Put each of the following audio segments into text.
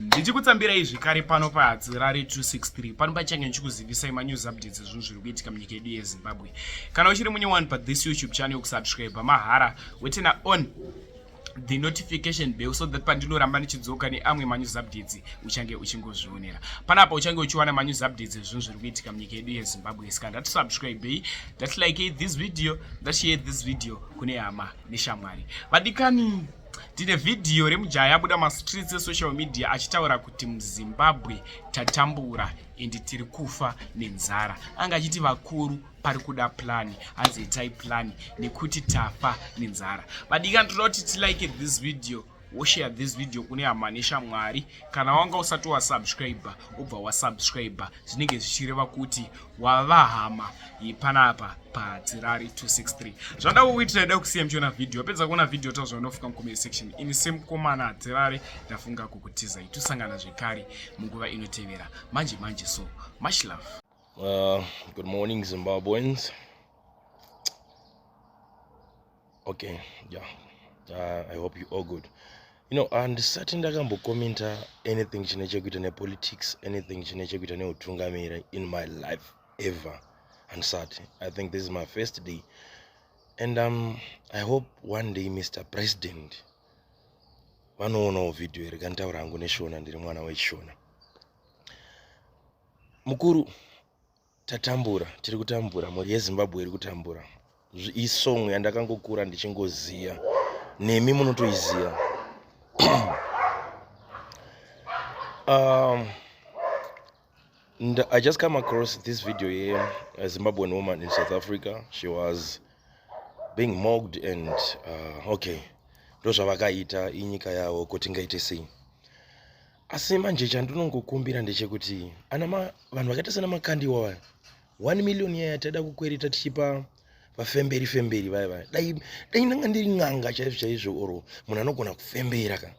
ndichikutsambira izvi kare pano pahadzirare 263 pano pachange ndichikuzivisai manews updates ezvinhu zviri kuitika munyika yedu yezimbabwe kana uchiri munye wani pathis youtube channel yokusubscribe mahara wetena on the notification bell so that pandinoramba ndichidzoka neamwe manews updates uchange uchingozvionera panapa uchange uchiwana manews updates ezvinhu zviri kuitika munyika yedu yezimbabwe ska ndatisubscribei ndatilike this video ndashare this video kune hama neshamwari vadikani Tine vhidhiyo remujaya abuda mastreets esocial media achitaura kuti muzimbabwe tatambura ende tiri kufa nenzara anga achiti vakuru pari kuda plani hanzi itai plani nekuti tafa nenzara vadikani toda kuti tilike this video woshare this video kune hama neshamwari kana wanga usati wasubscriber ubva wasubscriber zvinenge zvichireva kuti wava hama yepanapa padzirari 263 zvanda kukuitira ida kusiya mchiona vhidhiyo wapedza kuona vhidhiyo tazva unofuka mucomment section ini semukomana adzirari ndafunga kukutiza itusangana zvekare munguva inotevera manje manje so much love uh, good morning zimbabweans okay yeah uh, i hope you all good you know handisati uh, ndakambokomenta anything chine chekuita nepolitics anything chine chekuita neutungamiri in my life ever handisati i think this is my first day and um, i hope one day mr president vanoonawo vhidhiyo iri kanditaura hangu neshona ndiri mwana wechishona mukuru tatambura tiri kutambura mhuri yezimbabwe iri kutambura isong yandakangokura ndichingoziya nemi munotoiziva um, i just come across this video here a zimbabwean woman in south africa she was being mogged and uh, okay ndozvavakaita inyika yavo kuti ngaite sei asi manje chandinongokumbira ndechekuti ana vanhu vakaita sana makandiwa vaya one million yaya taida kukwereta tichipa vafemberi femberi vaya vaya dai dai ndanga ndiri n'anga chaizvo chaizvo or munhu anogona kufembera ka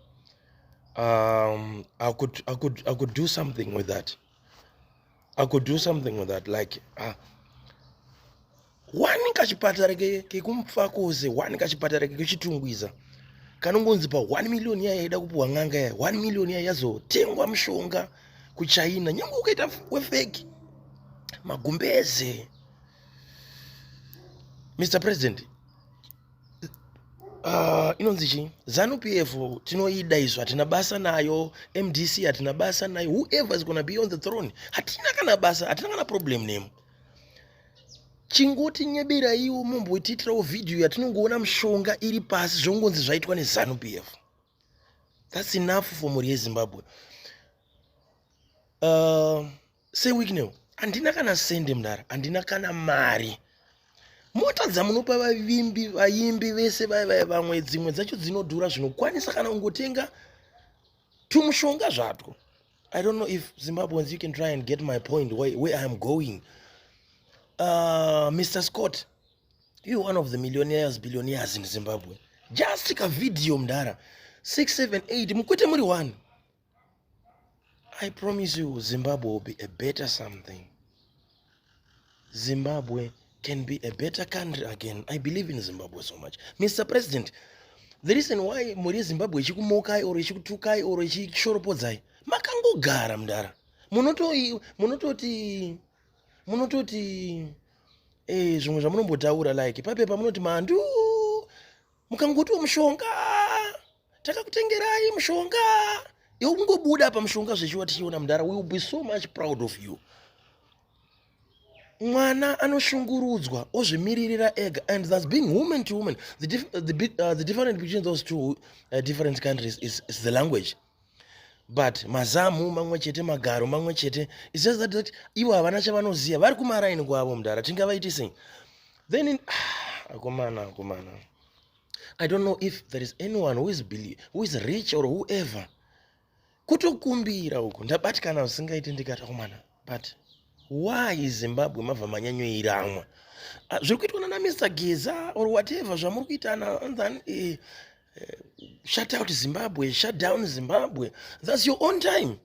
um, I could, I could, I could do something with that I could do something with that like ah wani kachipatara kekumfakoze wani kachipatara kekuchitungwiza kanongonzi pa 1 million yaya yaida kupiwa n'anga yaya 1 million yaya yazotengwa mushonga kuchina nyange ukaita wefeki magumbeze mr president Uh, inonzi chii zanu p f tinoida izvo hatina basa nayo mdc hatina basa nayo whoever is gona be on the throne hatina kana basa hatina kana problem nemo chingoti nyebiraiwo mombotiitirawo vhidhiyo yatinongoona mushonga iri pasi zvongonzi zvaitwa nezanu p f thats enough for mhuri yezimbabwe uh, Sir Wicknell, handina kana sende mdara, handina kana mari. Mota dzamunopa vavimbi, vaimbi vese vaya vaya vamwe dzimwe dzacho dzinodhura zvinokwanisa kana ungotenga tumushonga zvatwo. I don't know if Zimbabweans you can try and get my point where, where I am going. Uh, Mr. Scott, you one of the millionaires, billionaires in Zimbabwe. Just take a video mdara. 678 mukwete muri one. I promise you Zimbabwe will be a better something. Zimbabwe can be a better country again. I believe in Zimbabwe so much. Mr. President, the reason why mhuri yezimbabwe ichikumokai or ichikutukai or ichishoropodzai makangogara mdara munototi munototi munototi eh, zvimwe zvamunombotaura like papepa munoti mandu mukangotiwo mushonga takakutengerai mushonga yokungobuda pamushonga zvechiwa tichiona mudhara will be so much proud of you mwana anoshungurudzwa ozvimiririra ega and thus being woman to woman the, dif the, big, uh, the different between those two uh, different countries is, is the language but mazamu mamwe chete magaro mamwe chete is just that, that ivo havana chavanoziva vari kumaraini kwavo mudhara tingavaiti sei then in, ah, akomana akomana i don't know if there is anyone who is, believe, who is rich or whoever kutokumbira uku ndabatikana zvisingaiti ndikatakumana but why zimbabwe mabva manyanyoiramwa ah, zviri kuitwa nana mr geza or whatever zvamuri kuita nathan eh, eh, shut out zimbabwe shut down zimbabwe thats your own time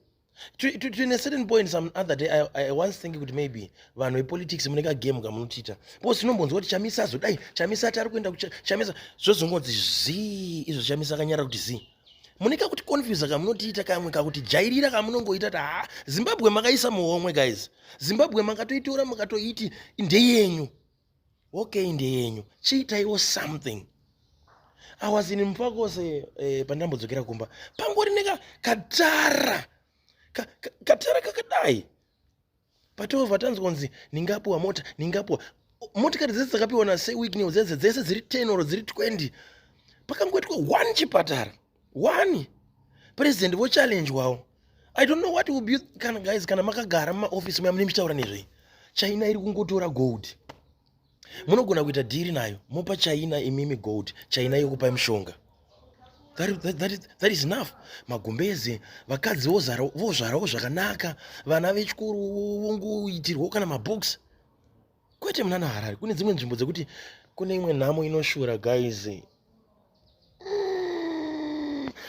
to, to, to in a certain point some other day i, I once think kuti maybe vanhu vepolitics mune kagame kamunotiita because tinombonzwa kuti chamisa azodai chamisa ati ari kuenda kuchamisa zvozongonzi zii izvo chamisa akanyara kuti zii mune kakuti confusa kamunotiita kamwe kakuti jairira kamunongoita ti haa zimbabwe makaisa muhomwe guys zimbabwe makatoitora makatoiti ndeyenyu okay ndeyenyu chiitaiwo something i was in mupakose eh, pandambodzokera kumba pangori neka katara ka, ka, katara kakadai patova tanzwa nzi ndingapiwa mota ndingapiwa motikari dzese dzakapiwa naseweeknew dzese dzese dziri 10 or dziri 20 pakangoitwa one chipatara one president vochallenjwawo i don't know what will be kana guys kana makagara mumaofisi muya mune michitaura nezvei china iri kungotora gold munogona kuita dhiri nayo mopa china imimi gold china yokupai mushonga that, that, that, is, that is enough magumbeze vakadzi vozvarawo zvakanaka vana vechikoro vongoitirwawo kana mabooks kwete munana harare kune dzimwe nzvimbo dzekuti kune imwe nhamo inoshura guys mm.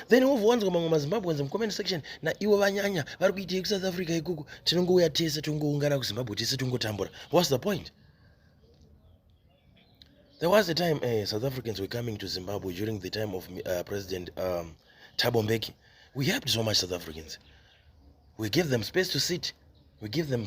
then wovowanzwa mamwe mazimbabweans mucomment section naiwo vanyanya vari kuitei kusouth africa ikuku tinongouya tese tongoungana kuzimbabwe tese tongotambura whats the point there was a time uh, south africans were coming to zimbabwe during the time of uh, president um, tabo mbeki we helped so much south africans we gave them space to sit we give them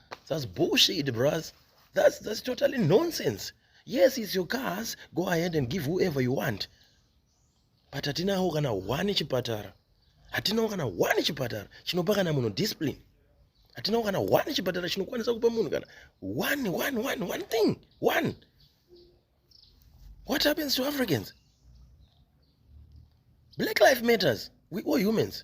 That's bullshit, bros. That's, that's totally nonsense. Yes, it's your cars. Go ahead and give whoever you want. But hatinawo kana one chipatara. Hatinawo kana one chipatara chinopa kana munhu discipline. Hatinawo kana one chipatara chinokwanisa kupa munhu kana one one one one thing. One. What happens to Africans? Black life matters. We all humans.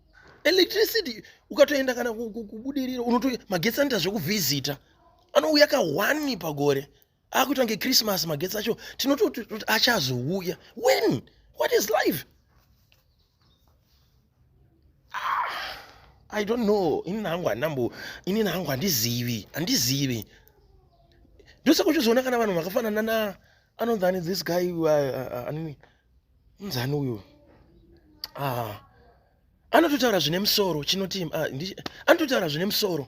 electricity ukatoenda kana kubudirira unoto magetsi anoita zvekuvhizita anouya ka one pagore akuita kunge christmas magetsi acho tinototi achazouya when what is life ah, i don't know inini hangu handambo inini hangu handizivi handizivi ndosaka uchizoona kana vanhu vakafanana na anonzi ani this guy uh, uh, uh, anini uh, uh, mzani uyu ah. anototaura zvine musoro chinotii ah, anototaura zvine musoro